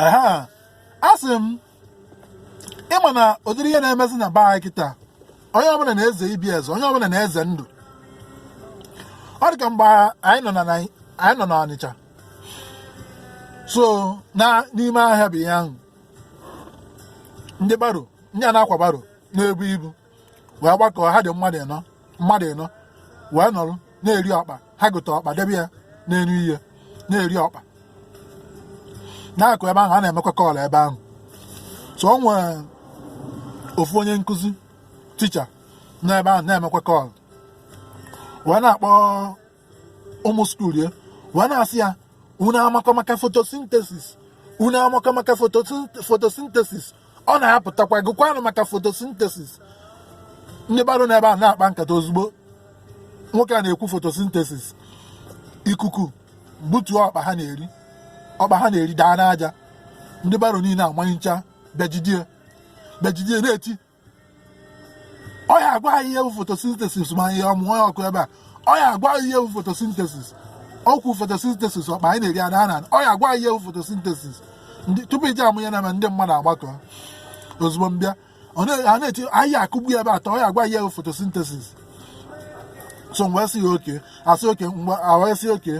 ehe asị m ịma na ụdịrị ihe na-emezi na be anyị kịta onye ọbụla na-eze ibe eze onye ọbụla na-eze ndụ ọ dị ka mgbe anyị nọ n'Ọnịcha so n'ime ahịa ebe ahụ ndị baro ndị a na-akwa baro na-ebu ibu wee gbakọọ ha dị mmadụ ịnọ wee nọrọ na-eri ọkpa ha gote ọkpa debe ya n'elu ihe na-eri ọkpa n'akụkụ ebe ahụ a na-emekwa call ebe ahụ so o nwere ofu onye nkụzi teacher n'ebe ahụ na-emekwa call wee na-akpọ ụmụ school ya wee na-asị ya unu amakọ maka photosynthesis unu amakọ maka photosynthesis ọ na-apụtakwa gụkwanụ maka photosynthesis ndị baro n'ebe a na-akpa nkata ozugbo nwoke a na-ekwu photosynthesis ikuku butuo ọkpa ha na-eri ọkpa ha na-eri daa n'aja ndị baro niile amanyịcha bịa jide ya bịa jide ya na-eti ọ ya agwa anyị ihe bụ photosynthesis ma anyị amụnye ọkụ ebe a ọ ya agwa anyị ihe bụ photosynthesis o kwuo photosynthesis ọkpa anyị na-eri adaa n'ana ọ ya agwa anyị ihe bụ photosynthesis tupu ị je ama ihe na-eme ndị mmadụ agbakọ ozugbo bịa na-eti a ya akụgbu ya ebe a taa ọ ya agwa ihe bụ photosynthesis so mgbe sị ya okay asị okay mgbe a wee sị okay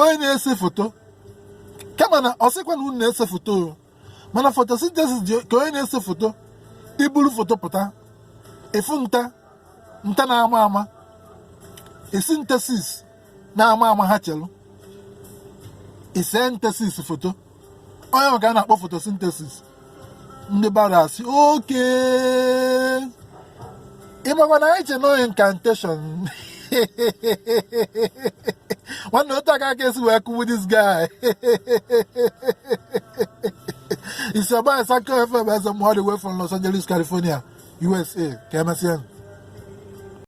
onye na-ese foto kama na ọ sịkwa na unu na-ese foto o mana photosynthesis dị ka onye na-ese foto i buru foto pụta efu nta nta na-ama ama esintesis na-ama ama ha chelụ isentesis foto ọ ya ka a na-akpọ photosynthesis ndị baro asị okay ịmakwa na anyị che na ọ incantation nwanne otu a ka a ka esi wee kụgbu this guy isogba asakọ FM Ezemba all the way from Los Angeles California USA ka emesịa